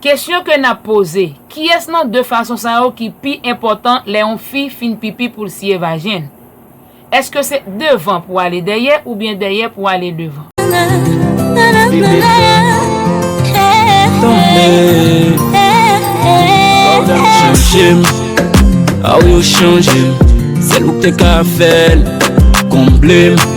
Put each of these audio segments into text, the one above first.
Kesyon ke n ap poze, Kiyès nan de fason sa yo ki pi enpòtan lè yon fi fin pipi pou l siye vajen l? Èske se devan pou ale dèyè oubyen dèyè pou ale devan?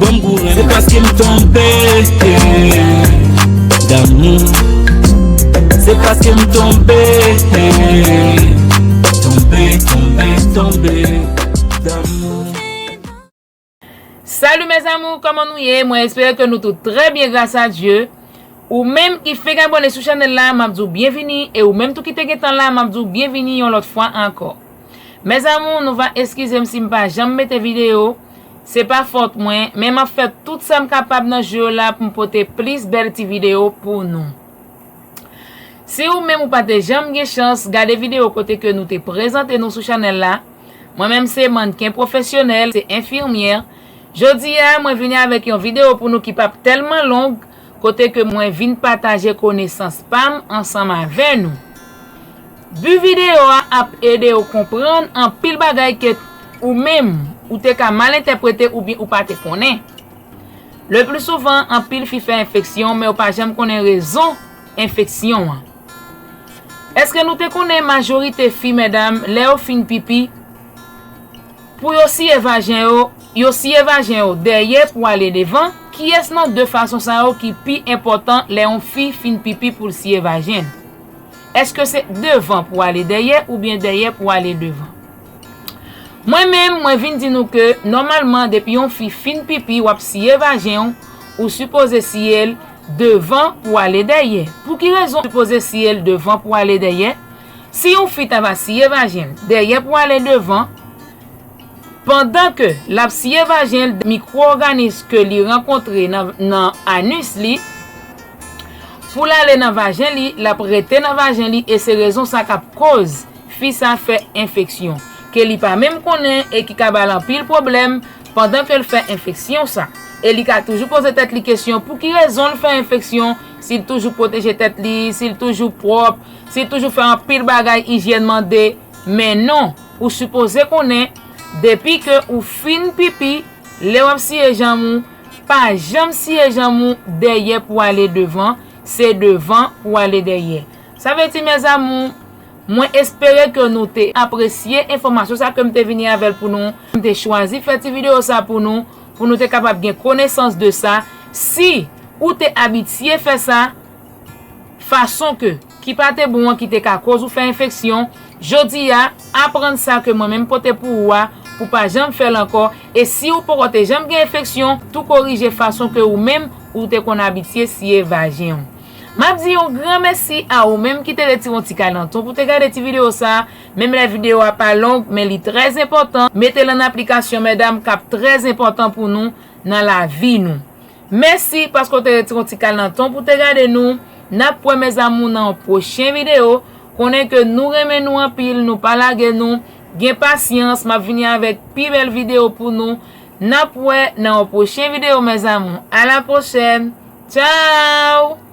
Banm gou renmen paske m tonbe damou Se paske m tonbe Tonbe, tonbe, tonbe damou Salut mes amours, koman nou ye? Mwen espere ke nou tout trè byen gras a Dye. Ou menm ki fek abone sou chanel la, map di w byenvini e ou menm tou ki te gentan la, map di w byenvini yon lòt fwa ankò. Mes amours, nou va eskize m si m pa janm mete video. Se pa fòt mwen, men map fè tout sam kapab nan jou yo la poum pote plis bèl ti video pou nou. Si ou menm ou pa te janm gen chans gade video kote ke nou te prezante nou sou chanèl la, mwen menm se mannken pwofesyonèl, se enfimyè, jodi a mwen vini avèk yon video pou nou ki pap tèlman long, kote ke mwen vin pataje konesans pa m ansanm avè nou. But videyo a ap ede ou konprann anpil bagay ke ou menm ou te ka mal entèprete oubyen ou pa te konnen. Le pli souvan anpil fi fè enfeksyon men yo pa janm konnen rezon enfeksyon an. Eske nou te konnen majorite fi medam lè yo fin pipi, Pou yo siye vajen yo, yo siye vajen yo dèyè pou ale devan, kiyès nan 2 fason sa yo ki pi enpòtan lè yon fi fin pipi pou l siye vajen l? Èske se devan pou ale dèyè oubyen dèyè pou ale devan? Mwen menm, mwen vin di nou ke nòmalman depi yon fi fin pipi w ap siye vajen w, ou sipoze siye l devan pou ale dèyè. Pou ki rezon ou sipoze siye l devan pou ale dèyè? Si yon fi ta va siye vajen l dèyè pou ale devan, pandan ke l ap siye vajen l mikwo-òganis ke li rankontre nan anus li, pou l ale nan vajen li, l ap rete nan vajen li e se rezon sa k ap koz fi sa fè enfeksyon ke li pa menm konnen e ki ka ba l anpil pwoblèm pandan ke l fè enfeksyon sa. E li ka toujou poze tèt li kesyon pou ki rezon l fè enfeksyon, si l toujou pwoteje tèt li, si l toujou pwòp, Si toujou fè anpil bagay ijyèn mande, men non, ou sipoze konnen, depi ke ou fin pipi, lè wap siye janm ou, pa janm siye janm ou dèyè pou ale devan, se devan pou ale dèyè. Sa vle di mes amours, mwen espere ke nou te apresye enfòmasyon sa kem te vini avèl pou nou, m te chwazi fè ti video sa pou nou, pou nou te kapab gen konesans de sa, si ou te abitye fè sa, fason ke ki pa te bon an ki te ka koz ou fè enfeksyon, jodi a aprann sa ke mwen menm pote pou ou a pou pa janm fèl ankò e si ou poko te janm gen enfeksyon tou korije fason ke ou menm ou te konn abitye siye vajen ou. Map di yon gran mèsi a ou menm ki te retire yon ti kalanton pou te gade ti video sa menm lè video a pa long men li trè enpòtan metel an aplikasyon mèdam kap trè enpòtan pou nou nan lavi nou Mèsi paske w te retire yon ti kal nan tan w pou w te gade nou. N ap wè mes amour nan yon pwochen video. Konnen ke nou renmen nou anpil, nou pa lage nou. Gen pasyans, m ap vini avèk pi bèl video pou nou. N ap wè nan yon pwochen video mes amour. A la pwochèn. Tchao!